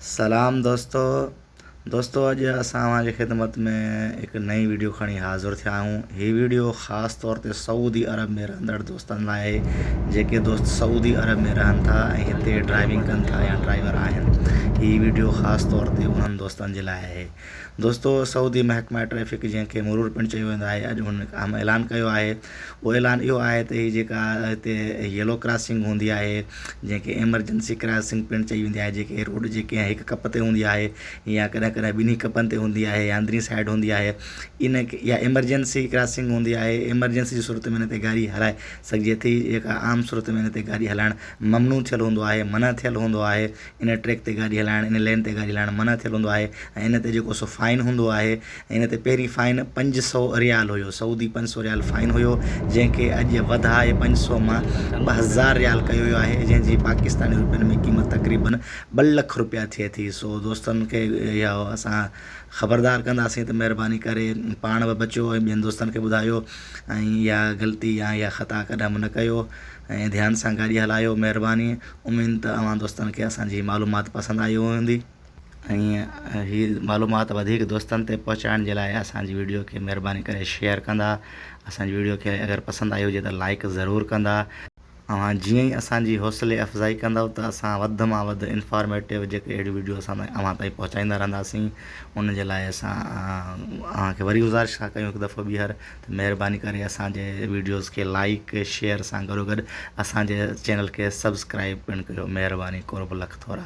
سلام دوستو دوستو اڄ اسان اوهان جي خدمت ۾ هڪ نئين ويڊيو کڻي حاضر ٿيا آهيون هي ويڊيو خاص طور تي سعودي عرب ۾ رهندڙ دوستن لاء آهي جيڪي دوست سعودي عرب ۾ رهن ٿا ۽ هتي ڊرائيونگ ڪن ٿا يا ڊرائيور آهن هي ويڊيو خاص طور تي انهن دوستن جي لاء آهي دوستو سعودي محڪمه ٽريفڪ جنهن کي مرور پڻ چيو ويندو آهي اڄ هن اهم اعلان ڪيو آهي اهو اعلان اهو آهي ته هي جيڪا هتي ييلو ڪراسنگ هوندي آهي جنهن کي ايمرجنسي ڪراسنگ پڻ چئي ويندي آهي جيڪي روڊ جي ڪنهن هڪ ڪپ تي هوندي آهي يا ڪڏهن ڪڏهن ٻنهي ڪپن تي هوندي آهي يا اندرين سائيڊ هوندي آهي ان يا ايمرجنسي ڪراسنگ هوندي آهي ايمرجنسي جي صورت ۾ هن تي گاڏي هلائي سگهجي ٿي جيڪا عام صورت ۾ هن تي گاڏي هلائڻ ممنوع ٿيل هوندو آهي منع ٿيل هوندو آهي ان ٽريڪ تي گاڏي هلائڻ ان لين تي گاڏي هلائڻ منع ٿيل هوندو آهي ۽ ان تي جيڪو سو فائن هوندو آهي ۽ ان تي پهرين فائن پنج سو ريال هيو سعودي پنج سو ريال فائن هيو جنهن کي اڄ وڌائي پنج سو مان ٻه هزار ريال ڪيو ويو آهي جنهن جي پاڪستاني روپين ۾ قيمت تقريبن ٻه لک روپيا ٿئي ٿي سو دوستن کي اها اسان خبردار ڪنداسين ته مهرباني ڪري پاڻ به بچو ۽ ٻين دوستن کي ٻڌايو ۽ اها غلطي يا اها خطا ڪڏهن به نه ڪيو ۽ ڌيان سان گاڏي هلايو مهرباني اميد ته اوهان دوستن کي اسان جي هي معلومات پسند آئي هوندي ۽ هي معلومات وڌيڪ دوستن تائين پهچائڻ جي لاء اسان جي ويڊيو کي مهرباني ڪري شيئر ڪندا اسان جي ويڊيو کي اگر پسند آئي هجي ته لائڪ ضرور ڪندا اوهان جيئن ئي اسان جي حوصلي افزائي ڪندؤ ته اسان وڌ مان وڌ انفارميٽو جيڪي اهڙيون ويڊيو اسان تائين اوهان تائين پهچائيندا رهنداسين ان جي لاء اسان اوهان کي وري گذارش ٿا ڪيون هڪ دفعو ٻيهر مهرباني ڪري اسان جي ويڊيوز کي لائيڪ شيئر سان گڏو گڏ اسان جي چينل کي سبسڪرائيب پڻ ڪريو مهرباني قرب لک ٿورا.